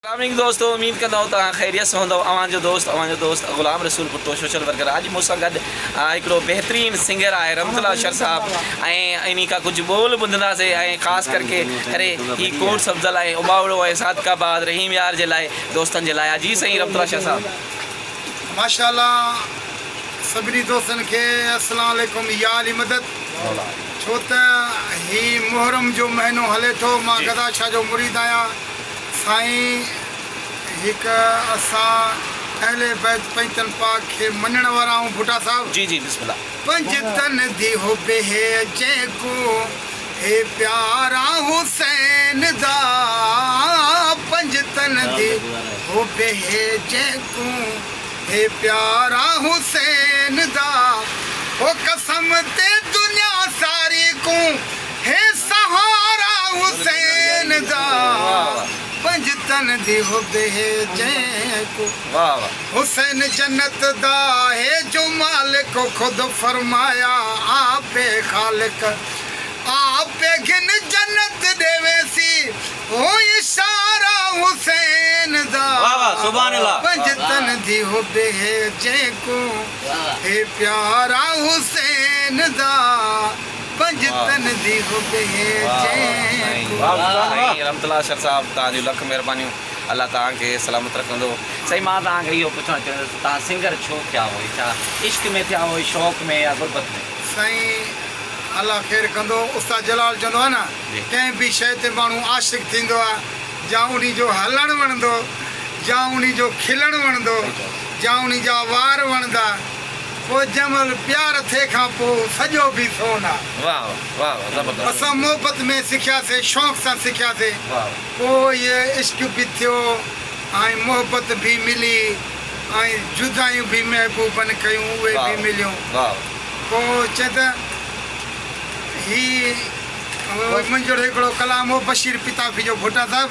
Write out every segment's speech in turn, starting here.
سلاميڪم دوستو اميد ڪندو توهان خيريت سان هوندؤ اوهان جو دوست اوهان جو دوست غلام رسول ڀٽو سوشل ورڪر اڄ مون سان گڏ هڪڙو بهترين سنگر آهي رحمت الله شر صاحب ۽ انهي کان ڪجهه ٻول ٻڌنداسي ۽ خاص ڪر ڪي ڪري هي ڪوٽ سبزل ۽ اباوڙو ۽ صادق آباد رحيم يار جي لاء دوستن جي لاء جي سائين رحمت الله شر صاحب. ماشاء الله سڀني دوستن کي السلام عليڪم يا علي مدد ڇو ته هي محرم جو مهينو هلي ٿو مان گدا شاهه جو مريد آهيان. سائين هڪ اسان اهل بيت پنجتن پاڪ کي مڃڻ وارا آهون ڀٽا صاحب. جي جي بسم الله. پنجتن دي حب هي جنهن ڪون هي پيارا حسين دا پنجتن دي حب هي جنهن ڪون هي پيارا حسين دا هو قسم تي دنيا ساري ڪون هي سهارا حسين جا پنج تن دي حب هي جيڪو حسين جنت دا هي جو مالڪ خود فرمايا آپ هي خالق آپ پي گهن جنت ڏي ويسي هو اشارا حسين جا پنج تن دي حب هي جيڪو هي پيارا حسين جا. پنج تن دي حب هي جنهن کون. واھ واھ سائين رحمت الله اشر صاحب توهان جون لک مهربانيون الله توهان کي سلامت رکندو. سائين مان توهان کي اهو پڇڻ چاهيندس ته توهان سنگر ڇو ٿيا هئي ڇا عشق ۾ ٿيا هئي شوق ۾ يا غربت ۾. سائين الله خير ڪندو استاد جلال چوندو آهي نه ڪنهن به شيء تي ماڻهو عاشق ٿيندو آهي جا انهي جو هلڻ وڻندو جا انهي جو کلڻ وڻندو جا انهي جا وار وڻندا. او جمل پيار ٿي کان پو سڄو ڀي سون آ. واھ واھ واھ زبردست. اسان محبت ۾ سکياسي شوق سان سکياسي پو هي عشق به ٿيو ۽ محبت به ملي ۽ جدايون به محبوبن ڪيون اهي به مليون پو چئين ته هي منهنجو هڪڙو ڪلام هو بشير پتافي جو ڀٽا صاحب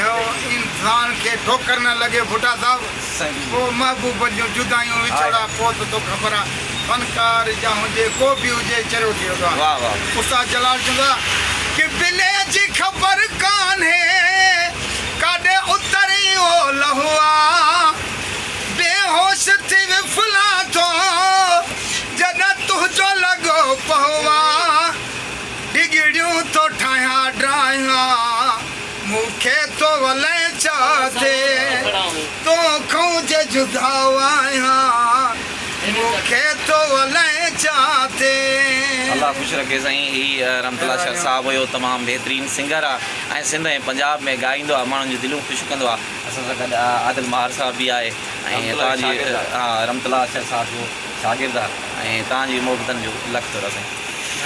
اهو انسان کي ٺوڪر نه لڳي ڀٽا صاحب ڪو محبوب جون جدايون وڇوڙا ڪو ته تو خبر آ فنڪار جا هجي ڪو به هجي چريو ٿي ويندو آ استاد جلال چوندو آ ڪي بلي جي خبر ڪانهي ڪاڏي اتري اهو لهو آ بي هوش ٿي وڦلان ٿو جڏهن تنهنجو لڳو پهو آ. ڊگھڙيون ٿو ٺاهيان ڊاهيان، مون کي ٿو ولائين ڇا ٿي، تون کون جي جدا آهيان، مون کي ٿو ولائين ڇا ٿي. الله خوش رکي سائين هي رحمت الله شر صاحب هيو تمام بهترين سنگر آ ۽ سنڌ ۽ پنجاب ۾ ڳائيندو آ ماڻهن جون دليون خوش ڪندو آ اسان سان گڏ عادل ماهر صاحب به آهي ۽ هتان جي رحمت الله شر صاحب جو شاگرد آ ۽ تهان جي محبتن جو لک ٿورا سائين.